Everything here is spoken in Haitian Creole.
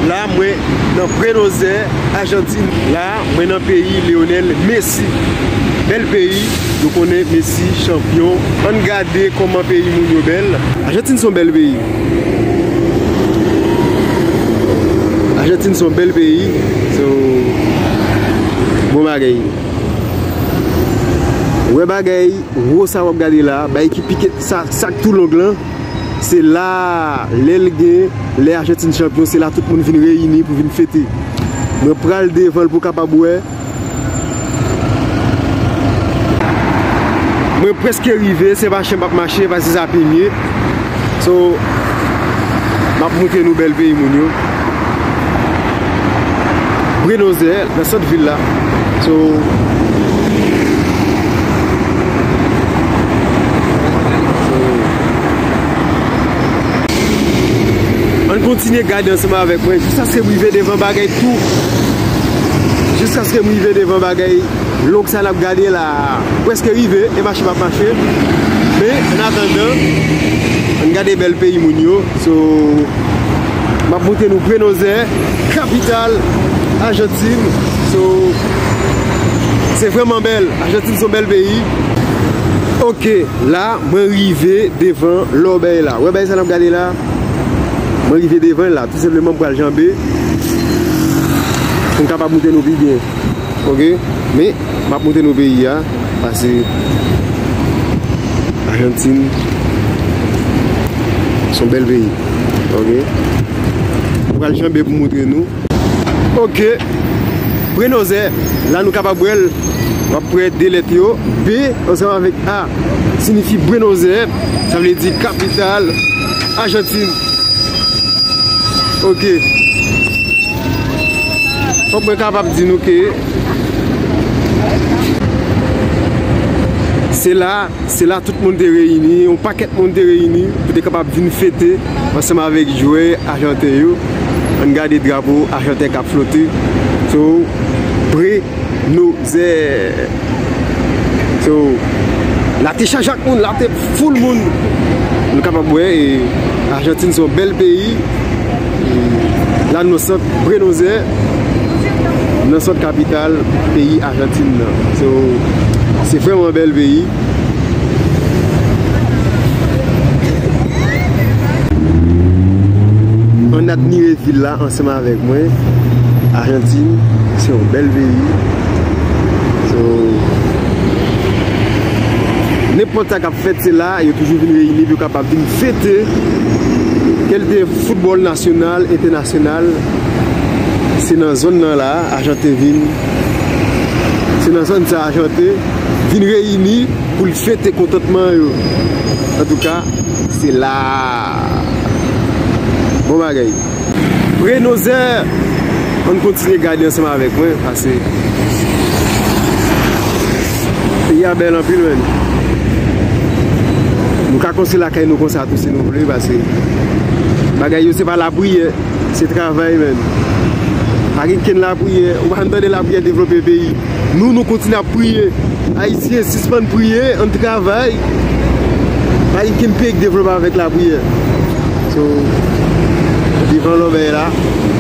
La mwen nan Buenos Aires, Ajantin. La mwen nan peyi Lionel Messi. Bèl peyi, nou konnen Messi chanpyon. Ann gade kòman peyi moun yo bèl. Ajantin son bèl peyi. Ajantin son bèl peyi. So, bon bagay. Wè bagay wo sa wap gade la, bay ki pike sa, sak tou long lan. Se la lè l gen, lè Ajantin chanpyon, se la tout moun vin reyini pou vin fete. Mwen pral devan l pou w kapab wè. Mwen prèske rive, se pa chen m ap mache, se pa zizapinye. So, m ap montre nou bèl peyi moun yo. Bri nose nan sant vil la So. Kontinye gade ansanman avèk mwen jiskaske m rive devan bagay tou jiskaske m rive devan bagay long sa n ap gade la a m prèske rive e mache m ap mache men annatandan ann gade bèl peyi moun yo so. Map montre nou Brenozè, kapital Ajantin. So, se vreman bèl. Ajantin son bèl peyi. Ok, la mwen rive devan lòbèy la. Wè bay sa nap gade la? Mwen rive devan la. Tou sepleman mwen pral janbe. Mwen kapab montre nou pi byen. Ok, men, map montre nou peyi ya. Pase, Ajantin, son bèl peyi. Ok Nou pral janbe pou moutre nou Ok Prenoze La nou kapab wèl Wap pre de let yo B ansanm avèk A Sinifi Brenoze Sa vle di kapital Ajantin Ok Fok mwen kapab di nou ke Se la Se la tout moun te reyini, yon pakèt moun te reyini pou te kapab vin fete ansanm avèk jwè ajanten yo. Ann gade drapo ajanten k ap flote sou Buenos Aires. So, la te chaje ak moun, la te foul moun. Nou kapab wè Ajantin se yon bèl peyi. La nou nan sant Buenos Aires. nan sant kapital peyi Ajantin nan. So, se vreman bèl peyi. Ann admire vil la ansanm avèk mwen. Ajantin, se yon bèl peyi. So, nenpòt sa kap fèt se la, yo toujou vin reyini pou yo kapab vin fete kèlte foutbòl nasyonal, entènasyonal. Se nan zòn nan la a Argente vin Se nan zòn sa a Argente vin reyini pou l fete kontantman yo Antouka se la a Bon bagay Prenoze An n kontinye gade ansanm avèk mwen pase Peyi a bèl anpil menn Nou ka konstwi lakay nou konsa tou si nou vle pase Bagay yo se pa lapriyè. Se travay men. Pa gen kenn lapriyè. Ou pa janm tande lapriyè devlope peyi. Nou nou kontinye ap priye. Ayisyen sispann priye ann travay. Pa gen kenn peyi k devlope avèk lapriyè. So, vivan lòbèy la.